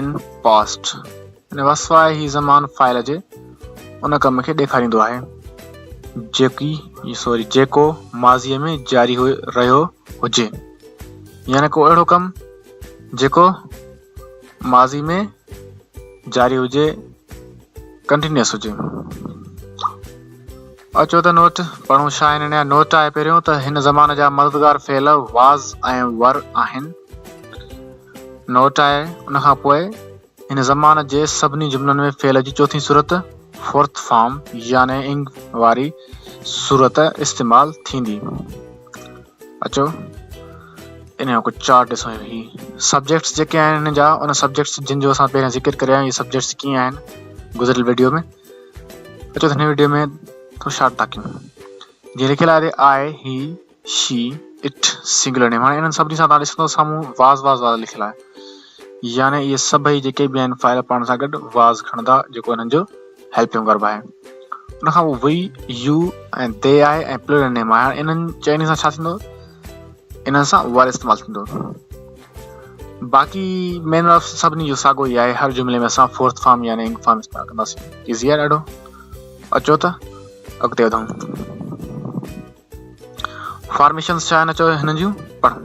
ان past ان کان سواء هي زمان فائل جي ان ڪم کي ڏيکاريندو آهي جيڪي سوري جيڪو ماضيء ۾ جاري هو رهيو هجي يعني ڪو اهڙو ڪم جيڪو ماضي ۾ جاري هجي ڪنٽينيوس هجي اچو ته نوٽ پڙهون شاهه هن نيا نوٽ آهي پهريون ته هن زمان جا مددگار فعل واز ۽ ور آهن نوٽ آهي، ان کان پوء هن زمان جي سڀني جملن ۾ فعل جي چوٿين صورت، Fourth Form، يعني انگ واري صورت استعمال ٿيندي. اچو ان جو ڪجهه چارٽ ڏسون. هي سبجيڪٽس جيڪي آهن هن جا ان سبجيڪٽس جن جو اسان پهريان ذڪر ڪريا آهن، هي سبجيڪٽس ڪيئن آهن گذريل ويڊيو ۾. اچو هن ويڊيو ۾ ٿورو شارٽ تاڪيون. جي لکيل آهي آء، هي، شي اٽ سنگلر نيم هاڻي انهن سڀني سان توهان ڏسندو سامهون واز واز واز لکيل آهي يعني اهي سڀئي جيڪي به آهن فائل پاڻ سان گڏ واز کڻندا جيڪو انهن جو هيلپنگ ورب آهي ان کان پوء وي يو ۽ دي آهي ۽ پلورل نيم آهي هاڻي انهن چئني سان ڇا ٿيندو انهن سان وائل استعمال ٿيندو باقي مين آف سڀني جو ساڳو ئي آهي هر جملي ۾ اسان فورٿ فارم يعني انگ فارم استعمال ڪنداسين ايزي آهي ڏاڍو اچو ته اڳتي وڌون فارميشنز ڇا آهن اچو هنن جون پڙهون.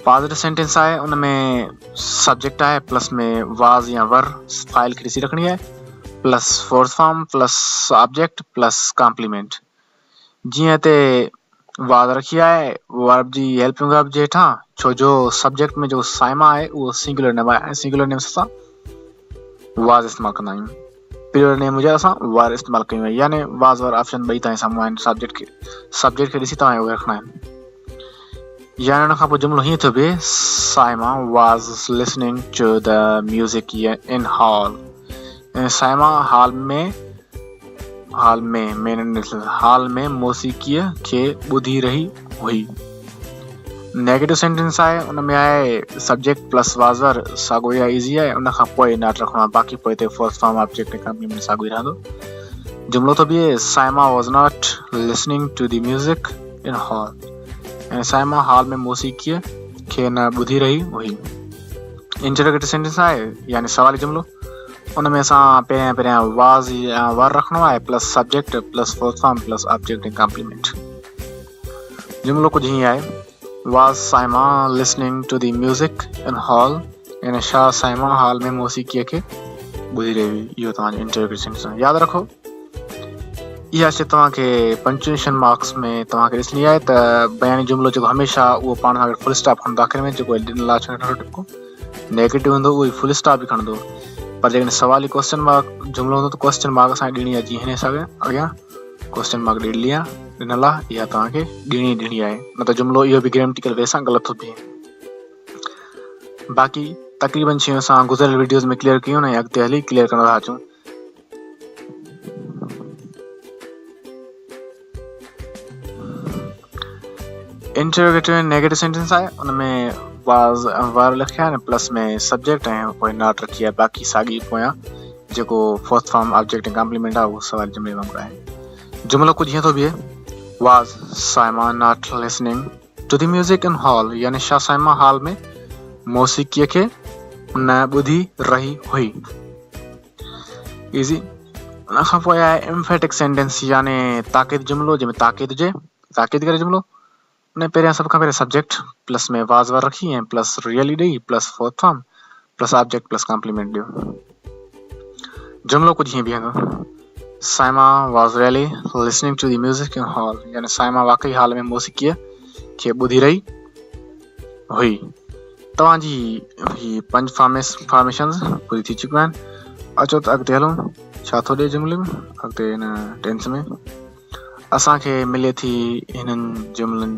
پازيٽو سينٽينس آهي ان ۾ سبجيڪٽ آهي پلس ۾ واز يا ور فائل کي ڏسي رکڻي آهي plus fourth form plus object plus complement جيئن هتي واڌ رکي آهي ورب جي هيلپنگ ورب جي هيٺان ڇو جو سبجيڪٽ ۾ جو سائما آهي اهو سنگولر نيم آهي ۽ سنگولر نيم اسان واز استعمال ڪندا آهيون پلر نيم هجي اسان وار استعمال ڪيون آهي يعني واز وار آپشن ٻئي تائين سامهون آهن سبجيڪٽ کي سبجيڪٽ کي ڏسي توهان اهو رکڻا آهن يعني ان کان پوء جملو هيئن ٿو بي Saima was listening to the music in hall cinema hall ۾ hall ۾ مين ڏسڻ هال ۾ موسيقيء کي ٻڌي رهي هئي نيگيٽو سينٽنس آهي ان ۾ آهي سبجيڪٽ پلس وازر ساڳو يا ايزي آهي ان کان پوء ناٽ رکڻو آهي باقي پوء تي فورس فارم آبجيڪٽ ڪمپني ۾ ساڳو ئي رهندو جملو ٿو بيهي Saima was not listening to the music in hall ۽ Saima hall ۾ موسيقيء کي نه ٻڌي رهي هئي انٽرگيٽو سينٽنس آهي يعني سوالي جملو ان ۾ اسان پهريان پهريان واز يا ور رکڻو آهي plus subject plus full form plus object ۽ complement جملو ڪجهه هيئن آهي was Saima listening to the music in hall يعني شاهه سائما هال ۾ موسيقي کي ٻڌي رهي هئي اهو توهان جو انٽروگيشن سان ياد رکو اها شي توهان کي پنچويشن مارڪس ۾ توهان کي ڏسڻي آهي ته بياني جملو جيڪو هميشه اهو پاڻ سان گڏ فل اسٽاپ کان داخل ۾ جيڪو ڏنل لاچ ٽپڪو نيگيٽو هوندو اهو ئي فل اسٽاپ به کڻندو پر جيڪڏهن سوالي ڪوسچن مارڪ جملو هوندو ته ڪوسچن مارڪ اسان کي ڏيڻي آهي جي هن حساب سان اڳيان ڪوسچن مارڪ ڏيلي آهي ڏنل آهي اها توهان کي ڏيڻي ڏيڻي آهي نه ته جملو اهو به گريميٽيڪل وي سان غلط ٿو ٿئي باقي تقريبن شيون اسان گذريل ويڊيوز ۾ ڪليئر ڪيون ۽ اڳتي هلي ڪليئر ڪندا اچون انٽروگيٽو ۽ نيگيٽو سينٽنس آهي ان ۾ واز ور لکيا آهن پلس ۾ سبجيڪٽ ۽ پوء ناٽ رکي آهي باقي ساڳي پويان جيڪو فورٿ فارم آبجيڪٽ ڪامپليمنٽ آهي اهو سوال جملي وانگر آهي جملو ڪجهه هيئن ٿو بيهي was Saima not listening to the music in hall يعني شاهه سئنيما هال ۾ موسيقيء کي نه ٻڌي رهي هئي. ايزي ان کان پوء آهي امفيٽڪ سينٽينس يعني تاڪيد جملو جنهن ۾ تاڪيد هجي تاڪيد ڪري جملو ان پهريان سڀ کان پهريان سبجيڪٽ پلس ۾ واز ور رکي ۽ پلس ريئلي ڏئي plus fourth form plus object plus complement ڏيو. جملو ڪجهه هيئن بيهندو، Saima was really listening to the music in hall يعني سائما واقعي هال ۾ موسيقيء کي ٻڌي رهي هئي. توهان جي هي پنج فارميس فارميشنز پوري ٿي چڪيون آهن. اچو ته اڳتي هلون ڇا ٿو ڏي جملي ۾ اڳتي هن ٽينس ۾ اسان کي ملي ٿي هنن جملن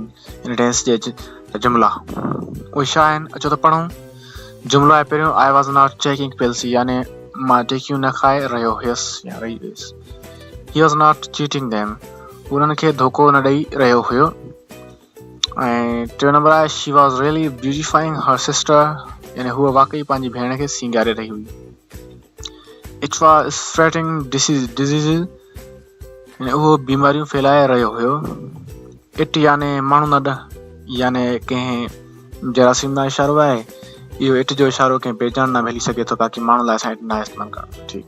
هن ڊينس جي جا جملا اهي ڇا آهن اچو ته پڙهون جملو آهي پهريون آئي واز ناٽ چيڪنگ پيلسي يعني مان ٽيڪيون نه کائي رهيو هيس يا رهي هيس he was not cheating them انهن کي ڌوڪو نه ڏئي رهيو هيو ۽ ٽيون نمبر آهي she was really beautifying her sister يعني هوء واقعي پنهنجي ڀيڻ کي سينگاري رهي هئي it was spreading disease disease يعني اهو بيماريون ڦيلائي رهيو هيو اٽ يعني ماڻهو نه يعني ڪنهن جراثيم نا اشارو آهي اهو اٽ جو اشارو ڪنهن بيجان نا ملي سگهي ٿو باقي ماڻهو لاء اسان اٽ نا استعمال ڪرڻ ٺيڪ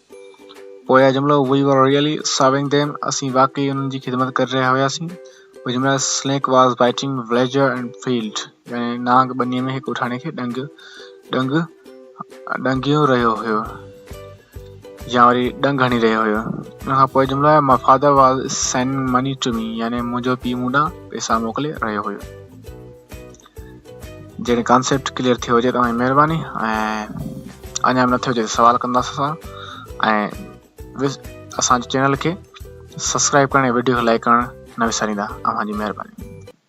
پويان جملو we were really serving them اسين واقعي انهن جي خدمت ڪري رهيا هياسين اهو جملا snake was biting villager in field يعني نانگ ٻني ۾ هڪ اٺاڻي کي ڏنگ ڏنگ ڏنگيو رهيو هيو يا وري ڏنگ هڻي رهيو هيو ان کان پوء جملو آهي my father was sending money to me يعني منهنجو پيء مون ڏانهن پئسا موڪلي رهيو هيو جڏهن ڪانسيپٽ ڪليئر ٿيو هجي توهان جي مهرباني ۽ اڃا نه ٿيو هجي ته سوال ڪنداس اسان ۽ اسان جي چينل کي سبسڪرائب ڪرڻ ۽ وڊيو کي لائڪ ڪرڻ نه وساريندا اوهان جي مهرباني